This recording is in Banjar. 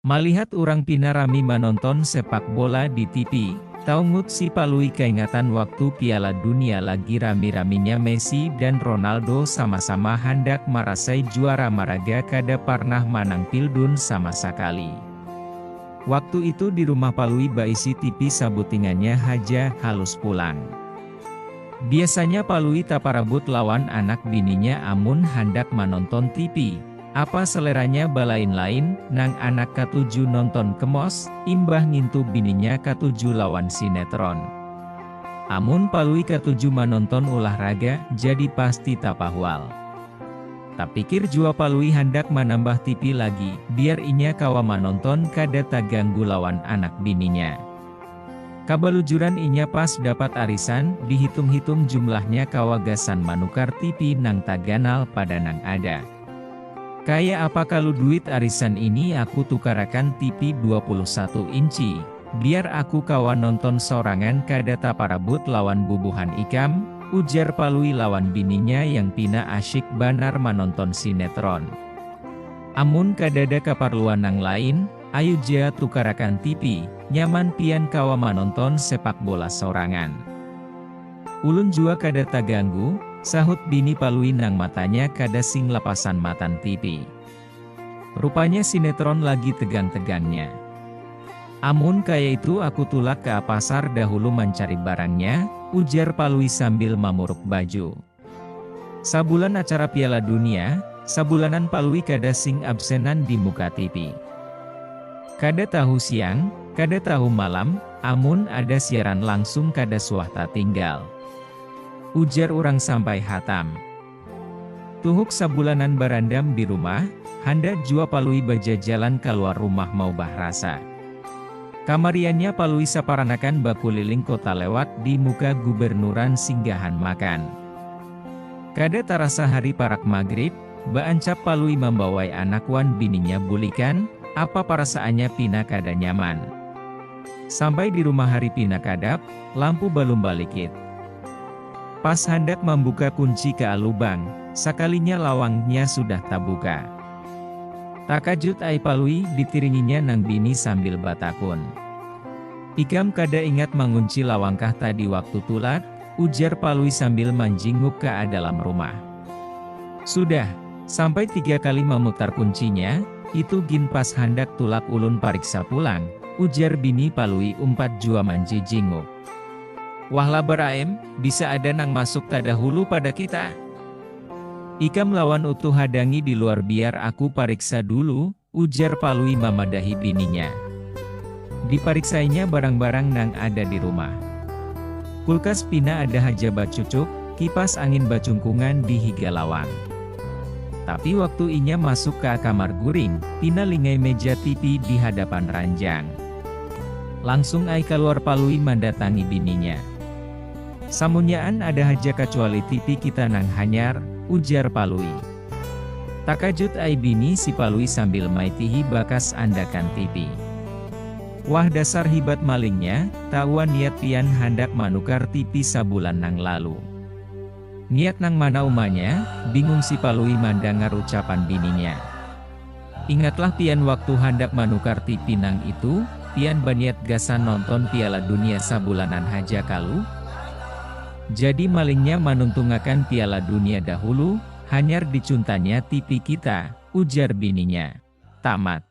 Malihat urang pina rami manonton sepak bola di tipi, taungut si Palui kaingatan waktu Piala Dunia lagi rami-raminya Messi dan Ronaldo sama-sama handak marasai juara maraga kada parnah manang pildun sama sakali. Waktu itu di rumah Palui baisi tipi sabutingannya haja halus pulang. Biasanya Palui taparabut lawan anak bininya amun handak manonton tipi. Apa seleranya balain-lain, nang anak katuju nonton kemos, imbah ngintu bininya katuju lawan sinetron. Amun Palui katuju manonton ulah raga, jadi pasti tapahwal. Tapikir jua Palui handak manambah tipi lagi, biar inya kawa manonton kada taganggu lawan anak bininya. Kabalujuran inya pas dapat arisan, dihitung-hitung jumlahnya kawa gasan manukar tipi nang taganal pada nang ada. Kaya apa kalu duit arisan ini aku tukarakan tipi dua puluh satu inci, biar aku kawa nonton sorangan kada taparabut lawan bubuhan ikam, ujar Palui lawan bininya yang pina asyik banar manonton sinetron. Amun kadada kaparluan nang lain, Ayu ja tukarakan tipi, nyaman pian kawa manonton sepak bola sorangan. Ulun jua kada taganggu, sahut bini Palui nang matanya kada sing lapasan matan tipi. Rupanya sinetron lagi tegang-tegangnya. Amun kaya itu aku tulak ka pasar dahulu mancari barangnya, ujar Palui sambil mamuruk baju. Sabulan acara piala dunia, sabulanan Palui kada sing absenan di muka tipi. Kada tahu siang, kada tahu malam, amun ada siaran langsung kada suah tatinggal. Ujar urang sampai hatam. Tuhuk sabulanan barandam di rumah, handak jua Palui bajajalan kaluar rumah maubah rasa. Kamariannya Palui saparanakan bakuliling kota lewat di muka gubernuran singgahan makan. Kada tarasa hari parak magrib, baancap Palui mambawai anak wan bininya bulikan, apa parasaannya pina kada nyaman. Sampai di rumah hari pina kadap, lampu balum balikit. Pas handak mambuka kunci ka lubang, sakalinya lawangnya sudah tabuka. Takajut ai Palui ditiringinya nang bini sambil batakun. Ikam kada ingat mangunci lawangkah tadi waktu tulak? ujar Palui sambil manjinguk ka dalam rumah. Sudah, sampai tiga kali mamutar kuncinya, itu gin pas handak tulak ulun pariksa pulang, ujar bini Palui umpat jua manjijinguk. Wah labar aem, bisa ada nang masuk tadahulu pada kita. Ikam lawan Utuh hadangi di luar biar aku pariksa dulu, ujar Palui mamadahi bininya. Dipariksainya barang-barang nang ada di rumah. Kulkas pina ada haja bacucuk, kipas angin bacungkungan di higa lawang. Tapi waktu inya masuk ka kamar guring, pina lingai meja tipi di hadapan ranjang. Langsung ai kaluar Palui mandatangi bininya. Samunyaan ada haja kacuali tipi kita nang hanyar, ujar Palui. Takajut ai bini si Palui sambil maitihi bakas andakan tipi. Wah dasar hibat malingnya, taua niat pian handak manukar tipi sabulan nang lalu. Niat nang mana umanya, bingung si Palui mandangar ucapan bininya. Ingatlah pian waktu handak manukar tipi nang itu, pian baniat gasan nonton Piala Dunia sabulanan haja kalu? Jadi malingnya manuntungakan Piala Dunia dahulu, hanyar dicuntanya tipi kita, ujar bininya. Tamat.